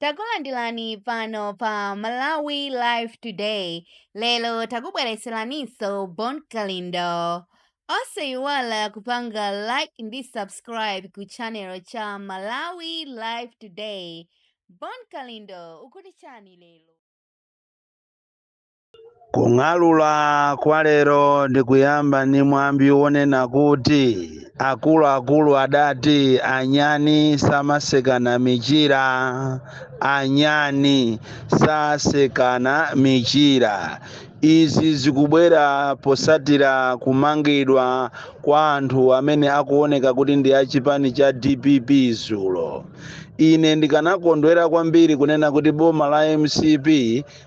takulandirani pano pa malawi live today lero takubweretseraniso bon kalindo osayiwala kupanga like ndi subscribe ku channel cha malawi live today bon kalindo ukuti chani lero Kung'alula kwa lero ndikuyamba ndi mwambi wonena kuti akuluakulu adati anyani samasekana michira. Anyani sasekana michira. Izi zikubwera potsatira kumangidwa kwa anthu amene akuoneka kuti ndi a chipani cha dpp dzulo. Ine ndikanakondwera kwambiri kunena kuti boma la mcp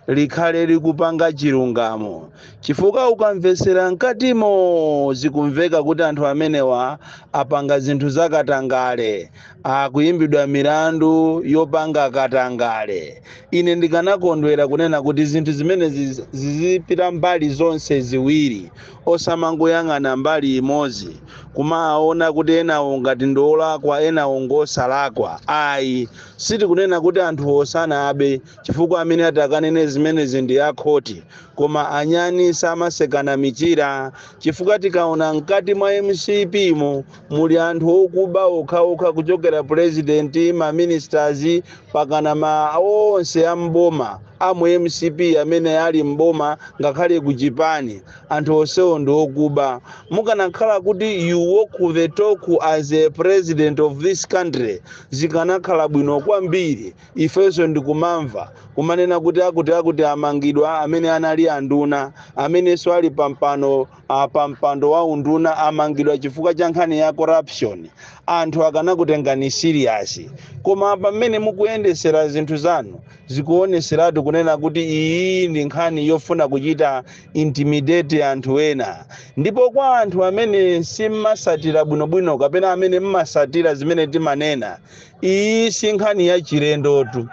likhale likupanga chilungamo chifukwa ukamvetsera mkatimo zikumveka kuti anthu amenewa apanga zinthu zakatangale akuyimbidwa milandu yopanga katangale ine ndikanakondwera kunena kuti zinthu zimenezi zizipita mbali zonse ziwiri osamangoyang'ana mbali imodzi kumaona kuti enawo ngati ndiolakwa enawo ngosalakwa ayi sitikunena kuti anthu osana abe chifukwa amene atakanene zimenezi ndi akhoti koma anyani samasekana michira chifukwa tikaona mkati mwa mcp mo muli anthu okuba okhaokha kuchokera purezidenti maministers pakana ma onse a mboma amu mcp amene ali mboma ngakhale kuchipani anthu onsewo ndi okuba mukanakhala kuti you walk the talk as a president of this country zikanakhala bwino kwambiri ifenso ndikumamva kumanena kuti akuti akuti amangidwa amene anali anduna amenenso ali pampando wa unduna amangidwa chifukwa cha nkhani ya corruption anthu akanakutengani serious koma pamene mukuyendesera zinthu zanu zikuoneseratu kunena kuti iyi ndi nkhani yofuna kuchita intimidate anthu ena ndipo kwa anthu amene simmasatira bwinobwino kapena amene mmasatira zimene timanena iyi si nkhani ya chilendotu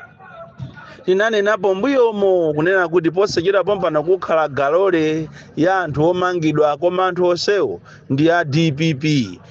tinanenapo mbuyomo kunena kuti posachita pompano kukhala galole ya anthu omangidwa koma anthu onsewo ndi a dpp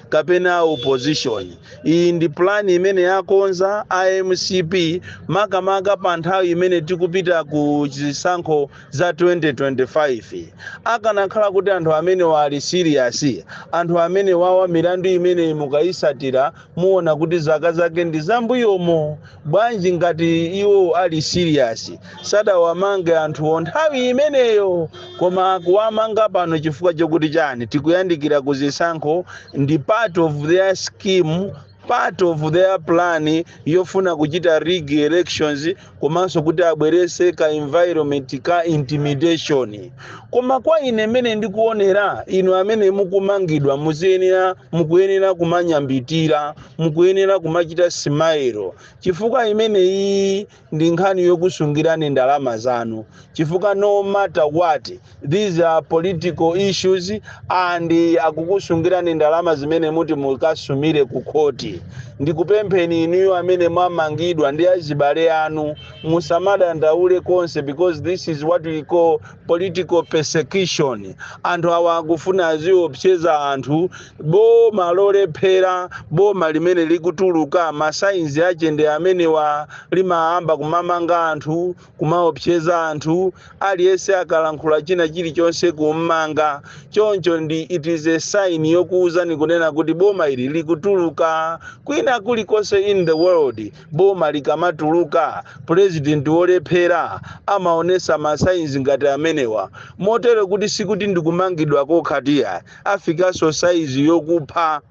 kapena a opposition iyi ndi pulani imene akonza a mcp makamaka pa nthawi imene tikupita ku zisankho za 2025 akanakhala kuti anthu amenewa ali serious anthu amenewawa milandu imene mukayisatira muona kuti zaka zake ndi zambuyomo bwanji ngati iwo ali serious sadawamange anthuwo nthawi imeneyo koma akuwamanga pano chifukwa chokuti chani tikuyandikira ku zisankho ndi part of their scheme part of their plan yofuna kuchita rig elections komanso kuti abwerese ka environment ka intimidation koma kwa ine mmene ndikuonera inu amene mukumangidwa muziyenera mukuyenera kumanyambitira mukuyenera kumachita smile chifukwa imene iyi ndi nkhani yokusungirani ndalama zanu chifukwa no matter what these are political issues and akukusungirani ndalama zimene muti mukasumire ku khoti ndikupempheni inuyo amene mwamangidwa ndi azibale anu musamadandaule konse because this is what we call political persecution anthu awa akufuna aziopseza anthu boma lolephera boma limene likutuluka ma signs ake ndi amenewa limayamba kumamanga anthu kumaopseza anthu aliyense akalankhula china chilichonse kummanga choncho ndi it is a sign yokuwuzani kunena kuti boma ili likutuluka kwina kulikonse in the world boma likamatuluka president wolephera amaonesa ma signs ngati amenewa motero kuti sikuti ndikumangidwa kokhatu iyayi afikanso size yokupha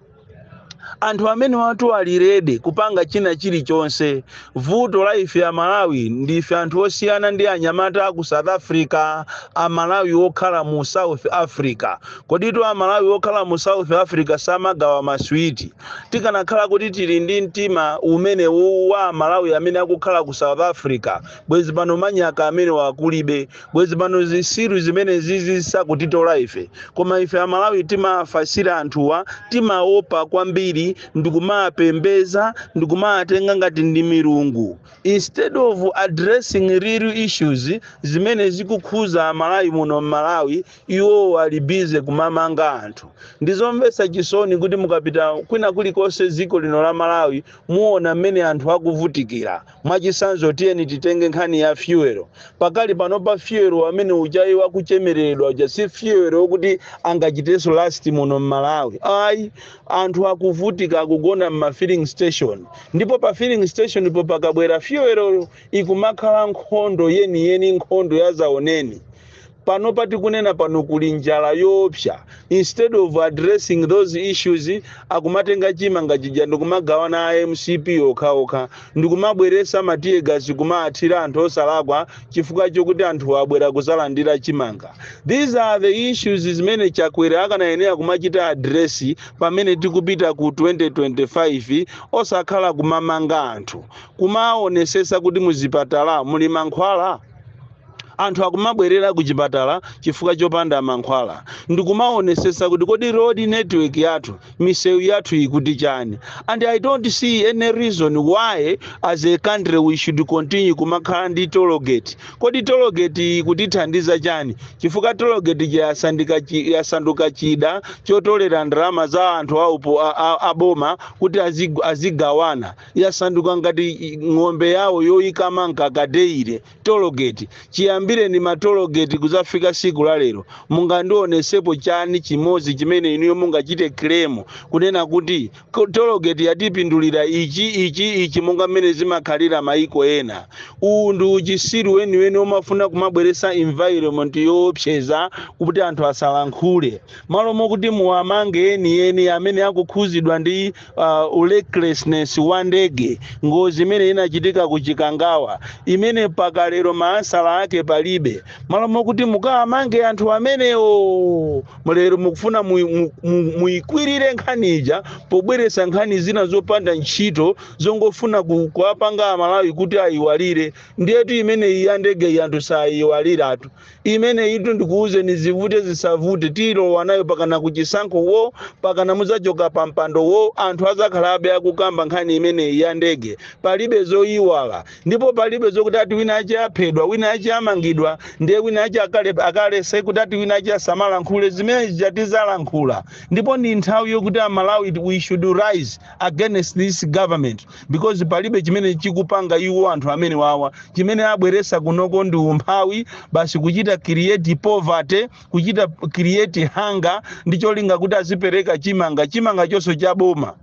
anthu amenewatu ali ready kupanga china chilichonse vuto la ife a malawi ndife anthu osiyana ndi anyamata aku south africa a malawi okhala mu south africa koditu a malawi okhala mu south africa samagawa maswiti tikanakhala kuti tili ndi mtima umene uwu wa a malawi amene akukhala ku south africa bwezi pano manyaka amenewa kulibe bwezi pano zisiru zimenezi sizikutitola ife koma ife amalawi timafasira anthuwa timaopa kwambiri ndikumapembeza ndikumatenga ngati ndi milungu instead of addressing real issues zimene zikukhuza amalawi muno mmalawi iwo ali busy kumamanga anthu ndizomvetsa chisoni kuti mukapita kwina kulikonse dziko lino la malawi muona mmene anthu akuvutikira Mwachitsanzo, tiyeni titenge nkhani ya fuel. Pakali panopa fuel wamene ujayi akuchemerera uja si fuel wokuti angachitenso last muno m'Malawi. Ayi, anthu akuvutika akugona m'ma filling station. Ndipo pa filling station po pakabwera fuel yo ikumakhala nkhondo yeniyeni, nkhondo yazaoneni. Panopa tikunena pano kuli njala yoopsa. Instead of addressing those issues, akumatenga chimanga chija ndikumagawana a mcp okhaokha ndikumabweresa ma teargas kumaathira anthu osalakwa chifukwa chokuti anthuwo abwera kuzalandira chimanga. These are the issues zimene Chakwera akanayenera kumachita address pamene tikupita ku 2025 osakhala kumamanga anthu. Kumaonesesa kuti muzipatala muli mankhwala? anthu akumabwerera ku chipatala chifukwa chopanda mankhwala ndikumaonesesa kuti kodi road network yathu misewu yathu ikuti chani and i don't see any reason why as a country we should continue kumakhala ndi tollgate kodi tollgate ikutithandiza chani chifukwa tollgate ija yasandika chi- yasanduka chida chotolera ndalama za anthu aupo a- a- aboma kuti azigu- azigawana yasanduka ngati i- ng'ombe yawo yoyikama mkaka daily tologeti chiyambireni matologeti kuzafika siku la lero mungandionesepo chani chimodzi chimene inuyo mungachite kilemu kunena kuti ko- tologeti yatipindulira ichi ichi ichi monga mmene zimakhalira maiko ena uwu ndi uchisiru weniweni omafuna kumabweresa environment yoopseza kuti anthu asalankhule malo mokuti muwamange enieni amene akukhuzidwa ndi uh, urecklessness wa ndege ngozi imene inachitika ku chikangawa imene mpaka lero maansala ake palibe malo mokuti mukawamange anthu amenewo lero mukufuna mu- mu- mu- muikwirire nkhani ija pobweresa nkhani zina zopanda ntchito zongofuna ku- kuwapanga amalawi kuti ayiwalire ndiyetu imeneyi ya ndege anthu sayiwaliratu imeneyitu ndikuwuzeni zivute zisavute tilowa nayo pakana kuchisankho wo pakana muzachoka pa mpando wo anthu azakhalabe akukamba nkhani imeneyi ya ndege palibe zoyiwala ndipo palibe zokuti ati winawache aphedwa winawache amangidwa ndiye winawache akale- akalese kuti ati winawache asamalankhule zimene zija tizalankhula ndipo ndi nthawi yokuti amalawi we should rise against this government because palibe chimene chikupanga iwo anthu amenewawa chimene abweresa kunoko ndi umphawi basi kuchita create poverty kuchita create hunger ndi cholinga kuti azipereka chimanga chimanga chonso cha boma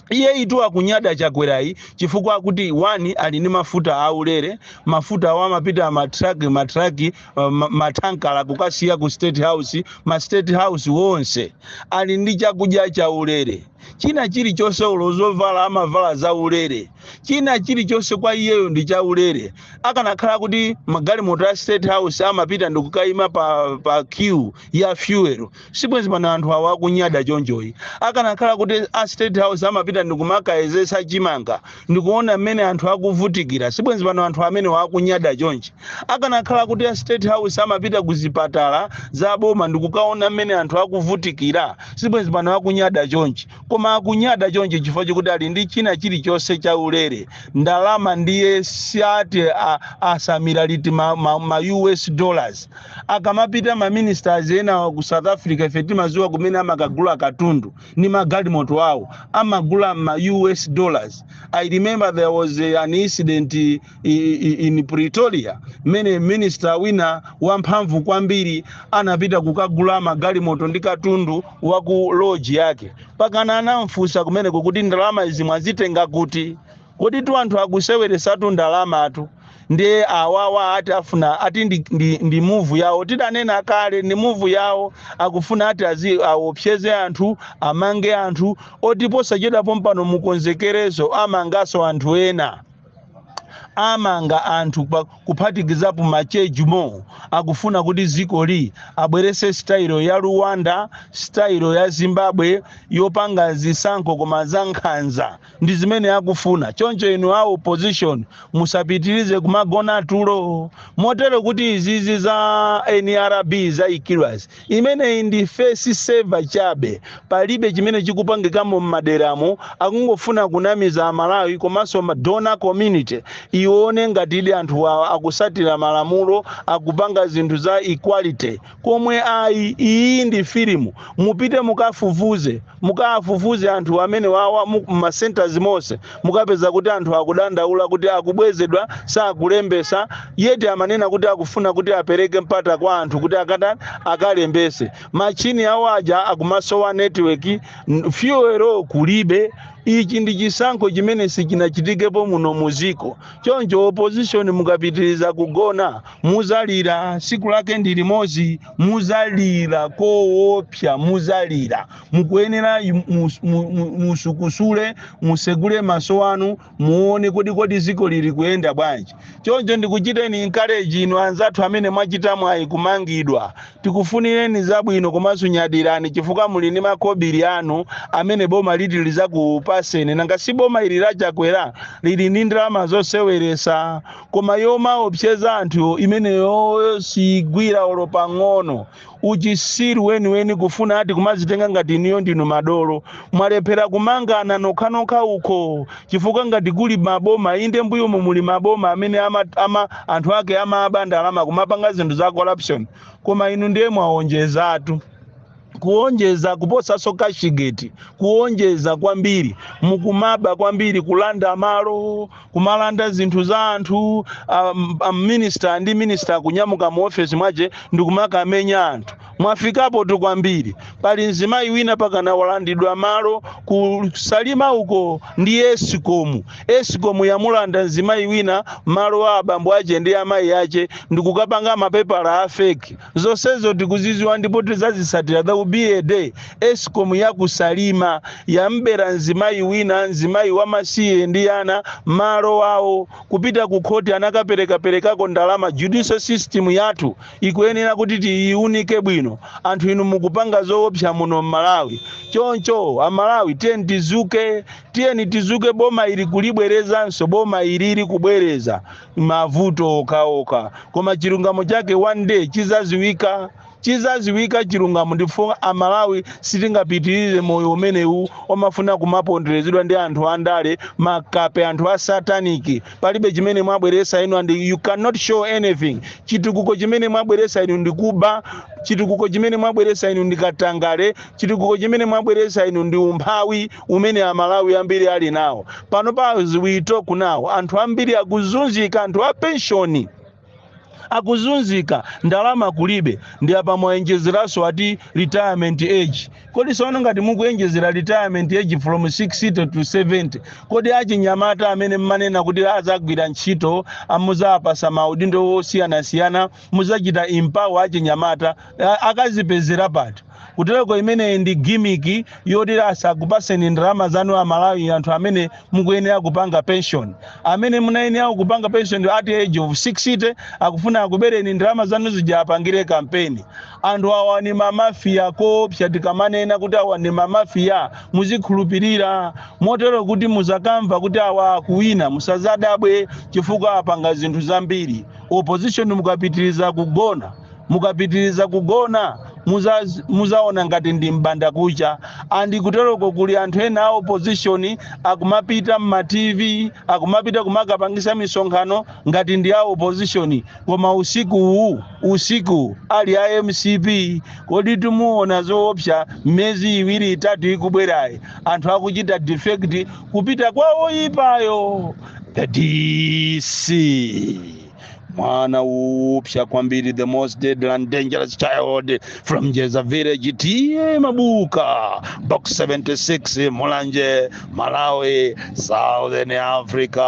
iyeyutu akunyada chakwerayi chifukwa akuti chani ali ndi mafuta aulere mafuta awo amapita matraki matraki uh, ma- matankala kukasiya ku state house ma state house onse ali ndi chakudya chaulere china chilichonse olo zovala amavala zaulere china chilichonse kwa iyeyo ndi chaulere akanakhala kuti magalimoto a state house amapita ndikukayima pa, pa queue ya fuel sibwenzi pano anthu awa akunyada chonchoyi akanakhala kuti a state house amapita ndikumakayezesa chimanga ndikuona mmene anthu akuvutikira sibwenzi pano anthu amenewa akunyada chonchi akanakhala kuti a state house amapita ku zipatala za boma ndikukaona mmene anthu akuvutikira sibwenzi pano akunyada chonchi koma akunyada chonchi chifukwa chikuti ali ndi china chilichonse cha ulere ndalama ndiye siati a- asamira liti ma, ma, ma us dollars akamapita ma ministers ena ku south africa ife timaziwa kumene amakagula katundu ni magalimoto awo amagula ma us dollars i remember there was a, an incident i- i- i- in pretoria mmene minister wina wamphamvu kwambiri anapita kukagula magalimoto ndi katundu wa ku loji yake pakana anamfunsa kumeneko kuti ndalama izi mwazitenga kuti kodi tu anthu akuseweresatu ndalamatu ndiye awawa ati afuna ati ndi, ndi, ndi muvu yawo tidanena kale ndi muvu yawo akufuna ati azi awopseze anthu amange anthu oti posachedwa pompano mukonzekere zomangaso anthu ena amanga anthu pa- kuphatikizapo machejimo akufuna kuti dziko li abwerese sitayilo ya rwanda sitayilo ya zimbabwe yopanga zisankho koma za nkhanza ndi zimene akufuna choncho inu a opposition musapitirize kumagona tulo motero kuti izizi za nrb zaikidwazi imeneyi ndi face saver chabe palibe chimene chikupangikamo m'maderamo akungofuna kunamiza amalawi komanso donor community ione ngatidi anthu awa akusatira malamulo akupanga zinthu za equality pomwe ayi iyi ndi filimu mupite mukafufuze mukafufuze anthu amene awawa mu- m'ma centers monse mukapeza kuti anthu akudandaula kuti akubwezedwa sakulembesa yeti amanena kuti akufuna kuti apereke mpata kwa anthu kuti akata akalembese machini awo aja akumasowa network n- fuel kulibe ichi ndi chisankho chimene sichinachitikepo muno muziko choncho opposition mukapitiriza kugona muzalira siku lake ndi limozi muzalira koopsa muzalira mukuyenera musukusule musegule maso anu muone kodi kodi ziko lili kuyenda bwanji choncho ndikuchiteni encourage inu anzathu amene mwachita mwayi kumangidwa tikufunireni zabwino komanso nyadirani chifukwa muli ndi makobiri anu amene boma liti lizakupaseni nanga si boma ili lachakwera lili ndi ndalama zoseweresa koma yomaopseza anthu imeneyoyo siyigwira olo pang'ono uchisiru weniweni kufuna ati kumazitenga ngati inuyo ndinu madolo mwalephera kumangana nokhanokha uko chifukwa ngati kuli maboma inde m'mbuyomo muli maboma amene ama, ama, anthu ake amaba ndalama kumapanga zinthu za corruption koma inu ndiye mwaonjezatu kuonjeza kuposaso kashigeti kuonjeza kwambiri mukumaba kwambiri kulanda malo kumalanda zinthu za anthu a minister ndi minister kunyamuka mu office mwache ndikumakamenya anthu mwafikapotu kwambiri pali mzimayi wina mpakana walandidwa malo kusalima uko ndi esikomu esikomu yamulanda mzimayi wina malo a abambo ache ndi amayi ache ndikukapanga mapepala a feki Zonsezo tikuziziwa ndipo tizazisatira there will be a day escom ya ku salima yambera mzimayi wina mzimayi wamasiye ndi ana malo awo kupita ku khoti anakaperekaperekako ndalama judicial system yathu ikuyenera kuti tiyiunike bwino anthu inu mukupanga zoopsa muno mmalawi choncho amalawi tiyeni tizuke tiyeni tizuke boma ili kulibwerezanso boma ilili kubwereza mavuto okhaokha koma chilungamo chake one day chizaziwika chizaziwika chilungamo ndipo amalawi sitingapitirize moyo umenewu omafuna kumaponderezedwa ndi anthu andale makape anthu a sataniki palibe chimene mwabweresa inu and you cannot show anything chitukuko chimene mwabweresa inu ndi kuba chitukuko chimene mwabweresa inu ndi katangale chitukuko chimene mwabweresa inu ndi umphawi umene amalawi ambiri ali nawo panopa as we talk now anthu ambiri akuzunzika anthu a penshoni akuzunzika ndalama kulibe ndi apa mwayenjezeranso ati retirement age kodi sono ngati mukuyenjezera retirement age from 60 to 70 kodi achinyamata amene mmanena kuti azagwira ntchito muzawapasa maudindo osiyanasiyana muzachita empower achinyamata akazipezera pati kutereko imeneyi ndi gimiki yoti asakupaseni ndalama zanu amalawi anthu amene mukuyenera kupanga pension amene munayenera kupanga pension at the age of 60 akufuna akubereni ndalama zanu zija apangire kampeni anthu awa ni mamafiya oopsa tikamanena kuti awa ni mamafiya muzikhulupirira motero kuti muzakamva kuti awa akuwina musazadabwe chifukwa apanga zinthu zambiri opposition mukapitiriza kugona mukapitiriza kugona muzaona ngati ndi mbandakucha and kutereko kuli anthu ena a opposition akumapita mma tv akumapita kumakapangisa misonkhano ngati ndi a opposition koma usiku uwu usiku uwu ali a mcp kodi timuona zoopsa mmezi iwiri itatu ikubwerayi anthu akuchita defect kupita kwa oyipayo the dc mwana upsya kwambiri the most deadly and dangerous child from jeza village tiye mabuka box 76 mulanje malawi southern africa